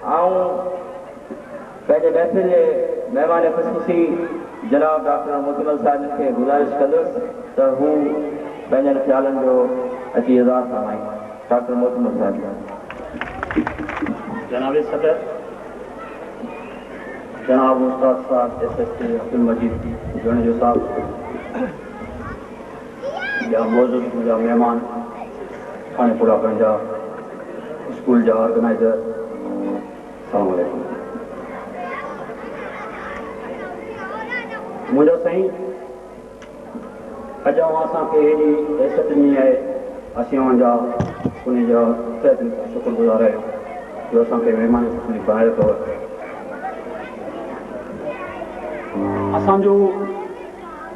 آئون پنهنجي محفل جي مهمان خصوصي جناب ڊاڪٽر موتيمل صاحب جن کي گذارش ڪندس ته هو پنهنجن خيالن جو اچي اظهار فرمائين. ڊاڪٽر موتيمل صاحب. جناب صدر، جناب استاد صاحب S S T Abdul Majeed Junejo صاحب، ٻيا موجود اسڪول جا مهمان ٿاڻي پورا ڪرڻ جا اسڪول جا آرگنائيزر سلام عليڪم منهنجا سائين اڄ اوهان اسان کي ايڏي حيثيت ڏني آهي اسين اوهان جا ان جا تهه دل سان شڪر گذار آهيون جو اسان کي مهمان خصوصي بڻايو اٿو اسان جو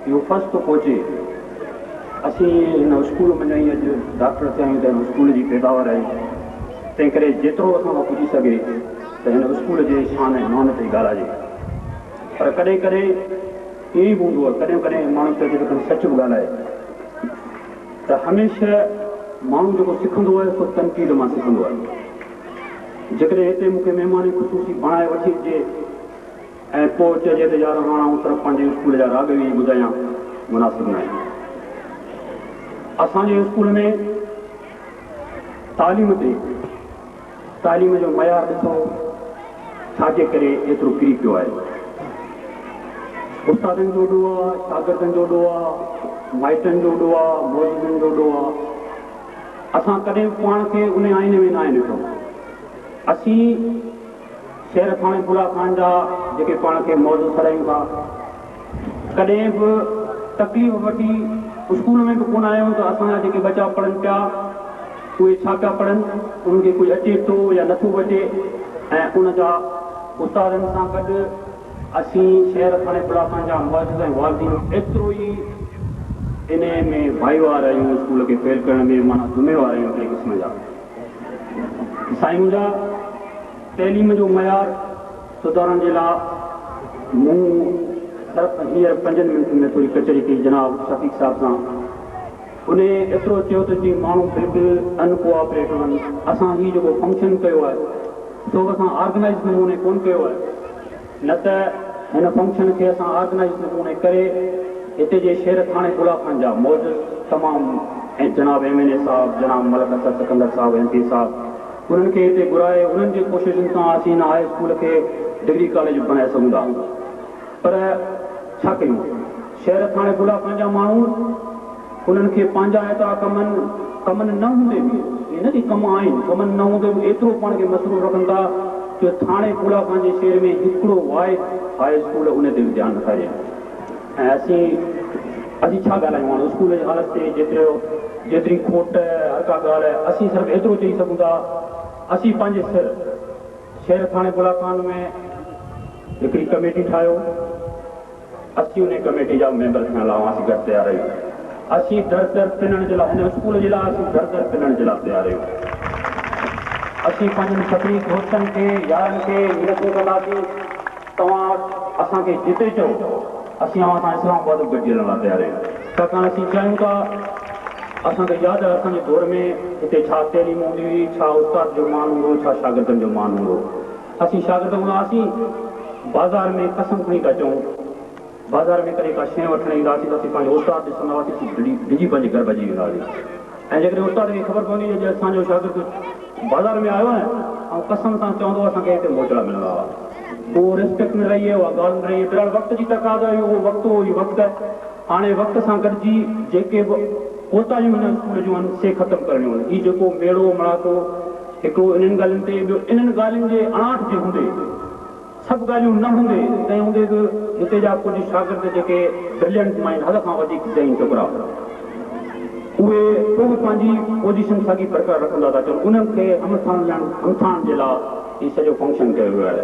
اهو فرض ٿو پهچي اسين هن اسڪول مان ۽ اڄ ڊاڪٽر ٿيا آهيون ته هن اسڪول جي پيداوار آهي تنهن ڪري جيترو اسان کان پڄي سگهي ته هن اسڪول جي شان ۽ مان تي ڳالهائجي پر ڪڏهن ڪڏهن ائين به هوندو آهي ڪڏهن ڪڏهن ماڻهو چئجي ته کڻي سچ به ڳالهائي ته هميشه ماڻهو جيڪو سکندو آهي سو تنقيد مان سکندو آهي جيڪڏهن هتي مون کي مهماني خصوصي بڻائي وٺي جي ائين پوء چئجي ته يار هاڻ آئون صرف پنهنجي اسڪول جا راڳ ئي ٻڌايان مناسب ناهي. اسان جي اسڪول ۾ تعليم تي تعليم جو معيار ڏسو ڇا جي ڪري ايترو ڪري پيو آهي. استادن جو ڏوهه آهي، شاگردن جو ڏوهه آهي، مائٽن جو ڏوهه آهي، معززن جو ڏوهه آهي. اسان ڪڏهن به پاڻ کي ان آئيني ۾ ناهي ڏٺو. اسين سير ٿاڻي ڦولا خان جا جيڪي پاڻ کي معزز سڏايون ٿا ڪڏهن به تڪليف وٺي اسڪول ۾ به ڪونه آيون ته اسان جا جيڪي ٻچا پڙهن پيا اهي ڇا پيا پڙهن انهن کي ڪجهه اچي ٿو يا نٿو اچي ۽ ان جا استادن سان گڏ اسين سير ٿاڻي ڦولا خان جا معزز ۽ والدين ايترو ئي انهي ۾ ڀائيوار آهيون اسڪول کي فيل ڪرڻ ۾ معنيٰ ذميوار آهيون هڪڙي قسم جا. سائين منهنجا تعليم جو معيار سڌارڻ جي لا مون صرف هينئر پنجن منٽن ۾ ٿوري ڪچهري ڪئي جناب شفيق صاحب سان انهي ايترو چيو ته جي ماڻهو بلڪل ان ڪوآپريٽو هن اسان هي جيڪو فنڪشن ڪيو آهي سو اسان آرگنائيز نموني ڪون ڪيو آهي نه ته هن فنڪشن کي اسان آرگنائيز نه ڪون ڪري هتي جي شير ٿاڻي بلا خان جا معزز تمام ۽ جناب ايم اين اي صاحب جناب ملڪ اسد سڪندر صاحب ايم پي صاحب انهن کي هتي گهرائي انهن جي ڪوششن سان اسين هن هاء اسڪول کي ڊگري ڪاليج بڻائي سگهون ٿا پر ڇا ڪيون شير ٿاڻي بلا خان جا ماڻهو انهن کي پنهنجا ايترا ڪمن ڪمن نه هوندي به ائين نه ڪي ڪم آهن ڪمن نه هوندي به ايترو پاڻ کي مصروف رکن ٿا جو ٿاڻي ڦولاڪان جي شهر ۾ هڪڙو واحد هاء اسڪول انهي تي به ڌيان نٿا ڏين ۽ اسين اسين ڇا ڳالهايون هاڻ اسڪول جي حالت تي جيترو جيتري کوٽ هر ڪا ڳالهه اسين صرف ايترو چئي سگهون ٿا اسين پنهنجي سر شهر ٿاڻي ڦولاڪان ۾ هڪڙي ڪميٽي ٺاهيو. اسين انهي ڪميٽي جا ميمبر ٿيڻ لا اوهان سين گڏ تيار آهيون اسين در در پنڻ جي لا هن اسڪول جي لا اسين در در پنڻ جي لا تيار آهيون اسين پنهنجن سڀني دوستن کي يارن کي منٿون ڪنداسين توهان اسان کي جتي چئو اسين اوهان سان اسلام آباد به گڏجي هلڻ لا تيار آهيون ڇاڪاڻ اسين چاهيون ٿا اسان کي ياد آهي اسان جي دور ۾ هتي ڇا تعليم هوندي هئي ڇا استاد جو مان هوندو هو ڇا شاگردن جو مان هوندو هو. اسين شاگرد هوندا هئاسين، بازار ۾ قسم کڻي پيا چئون. بازار ۾ ڪڏهن ڪا شيء وٺڻ ايندا هئاسين ته اسين پنهنجو استاد ڏسندا هئاسين اسين ڊڄي پنهنجي گهر ڀڄي ويندا هئاسين ۽ جيڪڏهن استاد کي خبر پوندي هئي ته اڄ اسان جو شاگرد بازار ۾ آيو آهي ۽ قسم سان چوندو اسان کي هتي موچڙا ملندا هئا. اهو ريسپيڪٽ نه رهي اها ڳالهه نه رهي بهرحال وقت جي تقاضا هئي اهو وقت هو هي وقت آهي هاڻي وقت سان گڏجي جيڪي به ڪوتاهيون هن اسڪول جون آهن سي ختم ڪرڻيون آهن هي جيڪو ميڙو مڙاڪو هڪ هو انهن ڳالهين تي، ٻيو انهن ڳالهين جي اڻاٺ تي هوندي، سڀ ڳالهيون نه هوندي، تنهن هوندي به هتي جا ڪجهه شاگرد جيڪي برليئنٽ مائنڊ حد کان وڌيڪ ذهين ڇوڪرا اهي پوء به پنهنجي پوزيشن ساڳي برقرار رکندا ٿا اچن، انهن کي همٿائڻ همٿائڻ جي لا هي سڄو فنڪشن ڪيو ويو آهي.